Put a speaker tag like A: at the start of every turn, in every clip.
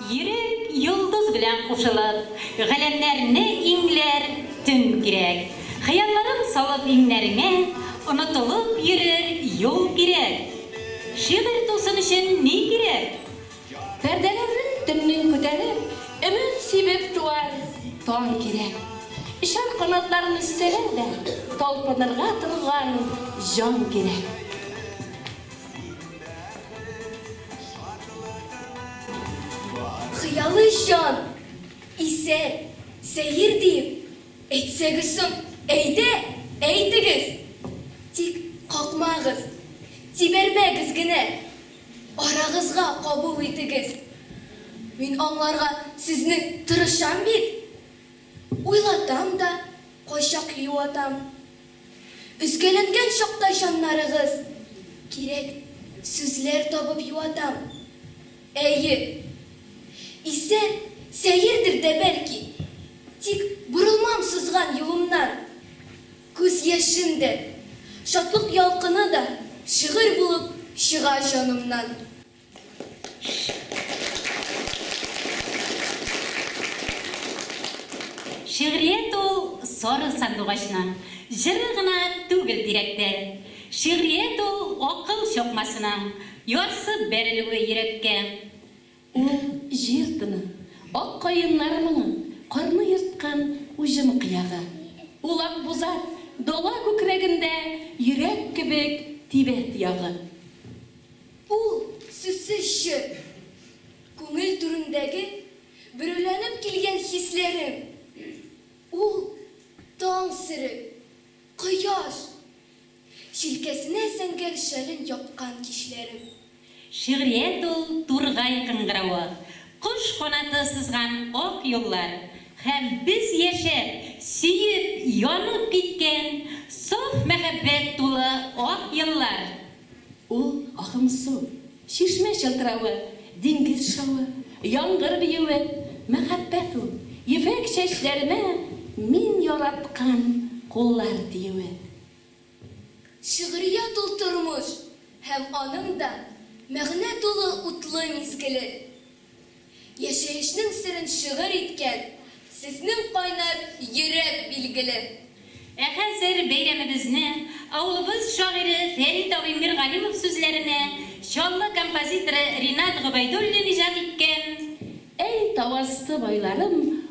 A: Йөрәк йолдыз белән кушылып. Галәмнәрне иңләр төн кирәк. Хыялларын салып иңнәреңә. Онытылып йөрер юл кирәк. Шигырь тусын өчен ни кирәк? Пәрдәләрен
B: төннең күтәреп. Өмет сибеп туар таң кирәк. Очар канатларын өстәләр дә. Талпынырга торган җан кирәк. Син бәхет шатлыгының
C: бары. Хыялый җан, исән, сәер диеп әйтсәгез соң, әйдә, әйтегез! Тик какмагыз, тибәрмәгез генә, арагызга кабул итегез. Мин аңларга сезне тырышам бит. Уйлатам да, кайчак юатам. Өзгәләнгән чакта җаннарыгыз, Кирәк сүзләр табып юатам. Әйе, исә сәердер дә бәлки, Тик борылмам сызган юлымнан. Күз яшем дә, шатлык ялкыны да Шигырь булып чыга җанымнан.
A: Шигърият ул сары сандугачны җыры гына түгел тирәктә. Шигърият ул акыл чокмасына ярсып бәрелүе йөрәккә. Ул
B: җир тыны, ак каеннар моңы, карны ерткан уҗым кыягы. Ул акбузат, дала күкрәгендә йөрәк кебек тибә тоягы.
C: Ул сүзсез җыр. Күңел түрендәге бөреләнеп килгән хисләрем. Ул, таң сере, кояш, җилкәсенә зәңгәр шәлен япкан кичләрем. Шигърият
A: ул, тургай кыңгыравы, кош канаты сызган ак юллар һәм без яшәп, сөеп, янып киткән саф мәхәббәт тулы ак еллар. Ул,
B: агым су, чишмә чылтыравы, диңгез шавы, яңгыр биюе, мәхәббәт ул, ефәк чәчләремә мин яраткан куллар тиюе. Шигърият
C: ул тормыш һәм аның да мәгънә тулы утлы мизгеле. Яшәешнең серен шигырь иткән Сезнең кайнар йөрәк билгеле. Ә хәзер
A: бәйрәмебезне авылыбыз шагыйре Фәрит абый Миргалимов сүзләренә, Чаллы композиторы Ринат Гобәйдуллин иҗат иткән, Әй, тау
B: асты байларым!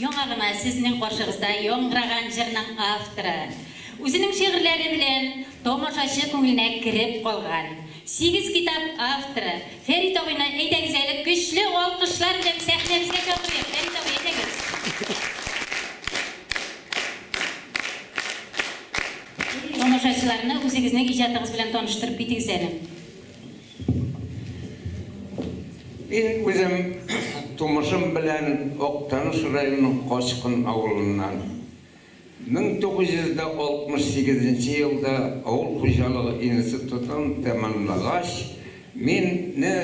A: Яңа гына сезнең каршыгызда яңгыраган җырның авторы, үзенең шигырьләре белән тамашачы күңеленә кереп калган, сигез китап авторы Фәрит абыйны әйдәгез әле көчле алкышлар белән сәхнәбезгә чакырыйк. Фәрит абый, әйдәгез. Тамашачыларны үзегезнең иҗатыгыз белән таныштырып китегез әле.
D: Мин үзем тумышым белән Актаныш районының Качкын авылыннан. 1968 нче елда авыл хуҗалыгы институтын тәмамлагач, мин не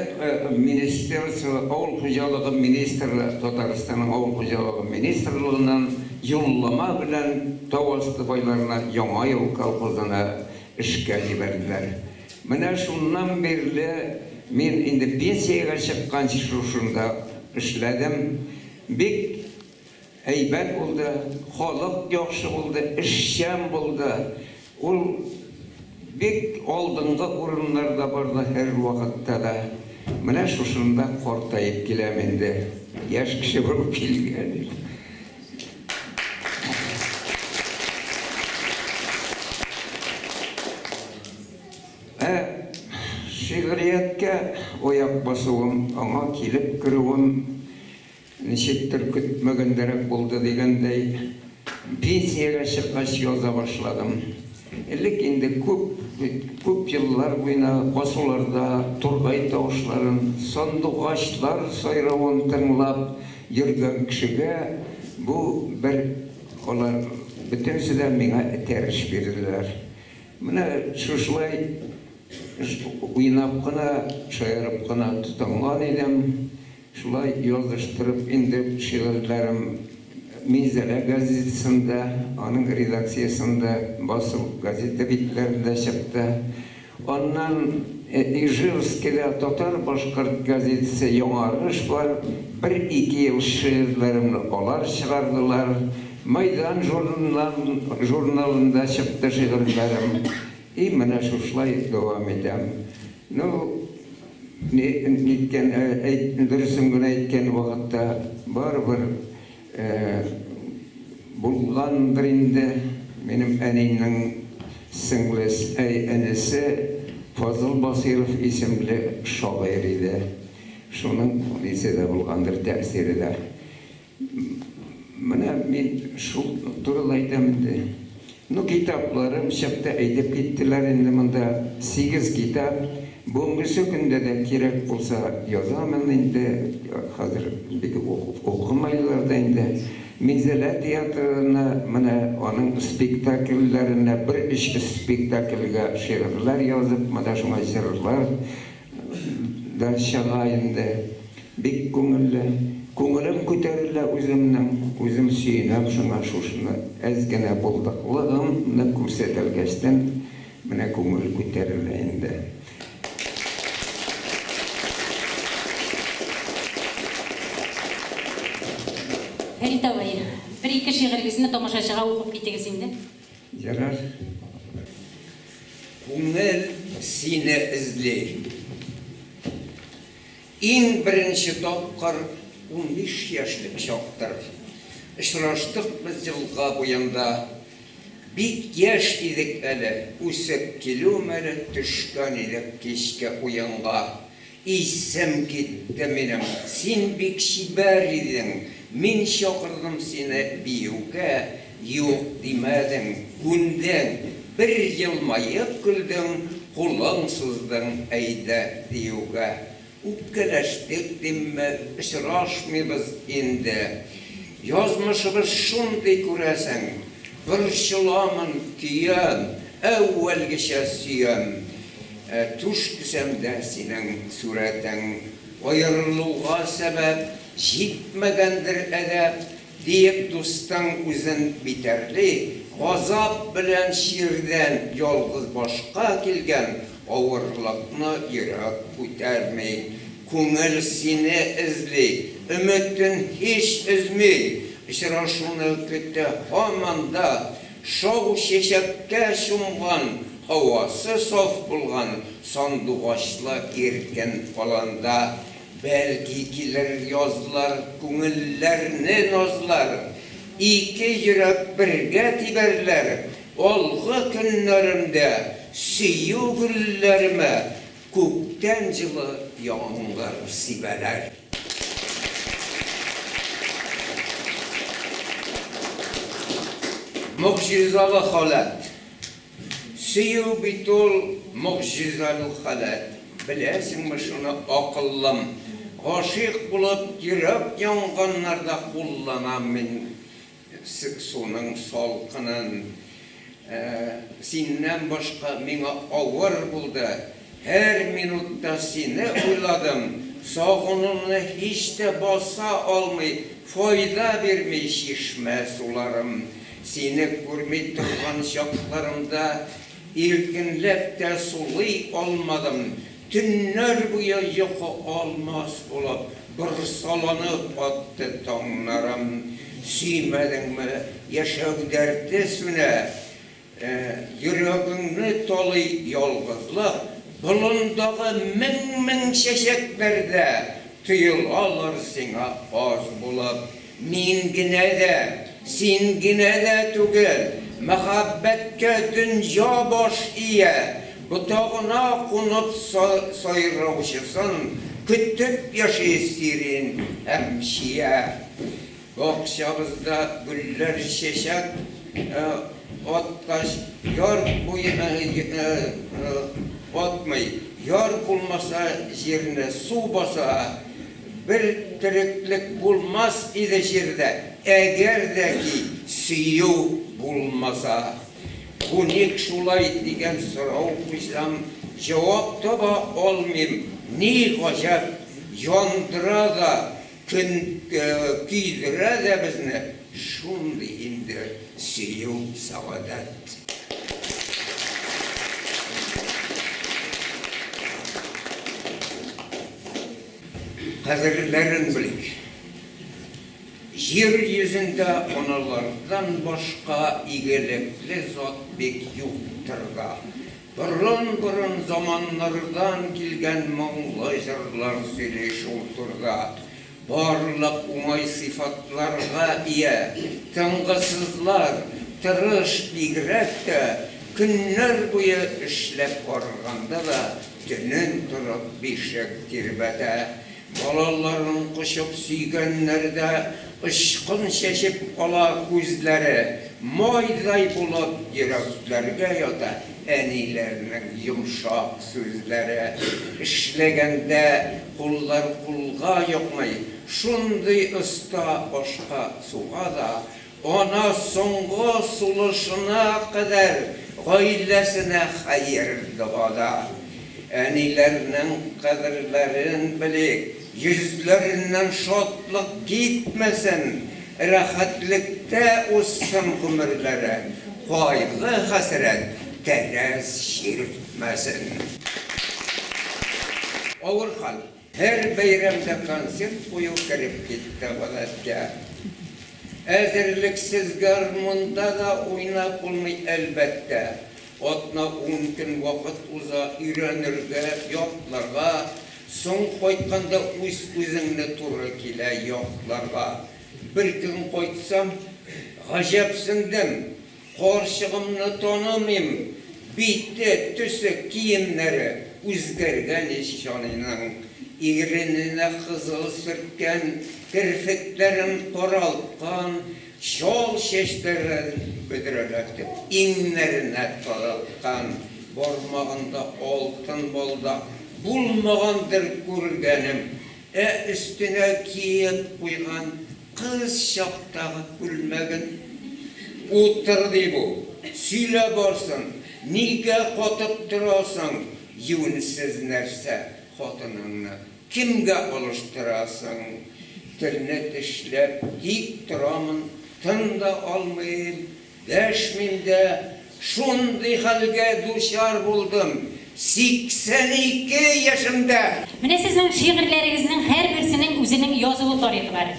D: министерство, авыл хуҗалыгы министры, Татарстанның авыл хуҗалыгы министрлыгыннан юллама белән тау асты байларына Яңа юл колхозына эшкә җибәрделәр. Менә шуннан бирле мин инде пенсиягә чыкканчы шушында эшләдем. Бик әйбәт булды, халык яхшы булды, эшчән булды. Ул бик алдынгы урыннарда барды һәрвакытта да. Менә шушында картаеп киләм инде, яшь кеше булып килгән идем. Ә шигърияткә аяк басуым, аңа килеп керүем ничектер көтмәгәндәрәк булды дигәндәй, пенсиягә чыккач яза башладым. Элек инде күп, күп еллар буена басуларда тургай тавышларын, сандугачлар сайравын тыңлап, Йөрдем кешегә, бу бер олы, бөтенесе дә миңа этәрыш бирделәр. Менә шушылай уйнап кына, шаярып кына тотынган идем, шулай языштырып инде шигырьләрем Минзәлә газетасында, аның редакциясендә басылып, газета битләрендә чыкты. Аннан Ижевскида татар-башкорт газетасы Яңарыш бар, бер-ике ел шигырьләремне алар чыгардылар. Майдан журналында чыкты шигырьләрем. И менә шушылай дәвам итәм. Ну, ниткән, дөресен генә әйткән вакытта барыбер. Булгандыр инде, минем әнинең сеңлес әй энесе Фазыл Басыйров исемле шагыйрь иде. Шуның үзе дә булгандыр, тәэсире дә. Менә мин шул турыда әйтәм инде. Ну китапларым чыкты әйтеп киттеләр инде монда сигез китап бүгенгесе көндә дә кирәк булса язамын инде хәзер бит укымайлар да инде Минзәлә театрына менә аның спектакльләренә бер өч спектакльгә шигырьләр язып менә шуңа җырлар Да чыга инде. Бик күңелле. Күңелем күтәрелә үземнең. Үзем сөенәм шуңа, шушны әз генә булдыклыгым ны күрсәтәлгәчтен, менә күңел күтәрелә инде. Фәрит абый, бер-ике
A: шигырегезне тамашачыга укып китегез инде. Ярар.
D: Күңел сине эзли. Иң беренче тапкыр унбиш яшьлек чактыр. Очраштык без елга буенда. Бик яшь идек әле, үсеп килү мәле төшкән идек кичке уенга. Исем китте минем, син бик чибәр идең, мин чакырдым сине биюгә, юк димәдең, күндең, бер елмаеп көлдең, кулың суздың, әйдә диюгә. Үпкәләштек димме, очрашмыйбыз инде. Язмышыбыз шундый күрәсең. Борчыламын, көям, әүвәлгечә сөям. Ә түш түшәмдә синең сурәтең. Аерылуга сәбәп, җитмәгәндер әдәп, Диеп дустың үзен битәрли. Газап белән чирдән ялгыз башка килгән Авырлыкны йөрәк күтәрми. Күңел сине эзли, өметен һич өзми, Очрашуны көтә һаман да, Шау чәчәккә чумган, һавасы саф булган сандугачлы иркен аланда, Бәлки килер язлар, күңелләрне назлар, Ике йөрәк бергә тибәрләр, Алгы көннәремдә, сөю гөлләремә, Күктән җылы яңгыр сибәләр. Могҗизалы халәт. Сөю бит ул могҗизалу халәт. Беләсеңме шуны, акыллым? Гашыйк булып, йөрәк янганнарда кулланам мин Эссе суның салкынын. Синнән башка миңа авыр булды. Һәр минутта сине уйладым. Сагынуны һич тә баса алмый, файда бирми чишмә суларым. Сине күрми торган чакларымда. Иркенләп тә сулый алмадым. Төннәр буе йокы алмас булып, борсаланып атты таңнарым. Сөймәдеңме, яшәү дәрте сүнә. Йөрәгеңне талый ялгызлык. Болындагы мең-мең чәчәкләр дә тоелалар сиңа аз булып. Мин генә дә, син генә дә түгел, Мәхәббәткә дөнья баш ия. Ботагына кунып сайраучысын, Көтеп яши сирень һәм чия. Бакчабызда гөлләр чәчәк аткач, Яр атмый. Яр булмаса, җирне су баса. Бер тереклек булмас иде җирдә. Әгәр дә ки сөю булмаса. Бу ник шулай дигән сорау куйсам, җавап таба алмыйм. Ни гаҗәп, яндыра да, көйдерә дә безне шундый инде сөю, сәгадәт. кадерләрен белик. Җир йөзендә аналардан башка игелекле зат бик юктыр да. Борын-борын заманнардан килгән моңлы җырлар сөйли шул турда. Барлык уңай сыйфатларга ия, тынгысызлар, тырыш, бигрәк тә көннәр буе эшләп арыганда да, Төнен торып бишек тирбәтә. Балаларын кочып сөйгәннәрдә Очкын чәчеп ала күзләре. Майдай булып йөрәкләргә ята Әниләрнең йомшак сүзләре. Эшләгәндә куллар кулга йокмый, Шундый оста ашка-суга да Ана соңгы сулышына кадәр гаиләсенә хәер-догада. Әниләрнең кадерләрен белик, йөзләреннән шатлык китмәсен, рәхәтлектә узсын гомерләре, кайгы-хәсрәт тәрәз чиртмәсен. Авыр хәл. Һәр бәйрәмдә концерт кую кереп китте гадәткә. Әзерлексез гармунда да уйнап булмый, әлбәттә. Атна-ун көн вакыт уза, өйрәнергә, ятларга, соң кайтканда үз-үзеңне туры килә ятларга. Беркөн кайтсам, гаҗәпсендем. Карчыгымны танымыйм, бите, төсе, киемнәре үзгәргән ич җаныйның, ирененә кызыл сөрткән, керфекләрен каралткан, чал чәчләрен бөдрәләтеп, иңнәренә тараткан, бармагында алтын балдак, булмагандыр күргәнем, ә өстенә киеп куйган Кыз чактагы күлмәген утыр, ди бу. Сөйлә барсын, нигә катып торасың, юньсез нәрсә хатыныңны кемгә алыштырасың? Телне тешләп тик торамын, тын да алмыйм, Дәшмим дә, шундый хәлгә дучар булдым, 82 яшемдә! Менә сезнең
A: шигырьләрегезнең һәрберсенең үзенең язылу тарихы бар.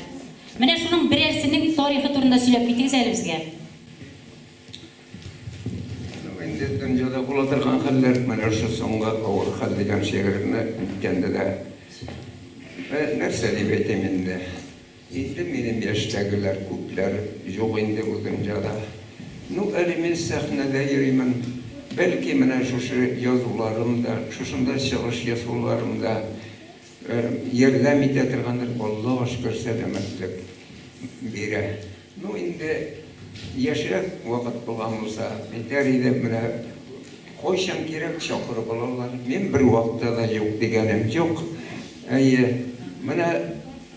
A: Менә шуның берәрсенең тарихы турында сөйләп китегез әле безгә.
D: Ну, инде дөньяда була торган хәлләр, менә шул соңгы авыр хәл дигән шигыремне әйткәндә дә, нәрсә дип әйтим инде. Инде минем яшьтәгеләр күпләр юк инде бу дөньяда. Ну, әле мин сәхнәдә йөримен. Бәлки, менә шушы язуларым да, шушында чыгыш ясауларым да ярдәм итә торгандыр, Аллага шөкер, сәламәтлек бирә. Ну, инде яшьрәк вакыт булган булса, әйтәр идем, менә кайчан кирәк чакырып алалар, мин бервакытта да юк дигәнем юк. Әйе, менә.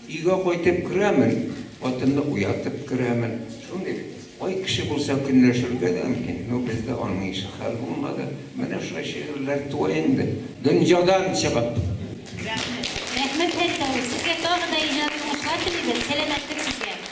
D: Өйгә кайтып керәмен, хатынны уятып керәмен. Шундый бай кеше булса, көнләшергә дә мөмкин. Ну, бездә аның ише хәл булмады. Менә шулай шигырьләр туа инде. Дөньядан чыгып. Рәхмәт. Рәхмәт Фәрит абый, сезгә
A: тагы да иҗат уңышлар телибез, сәламәтлек сезгә!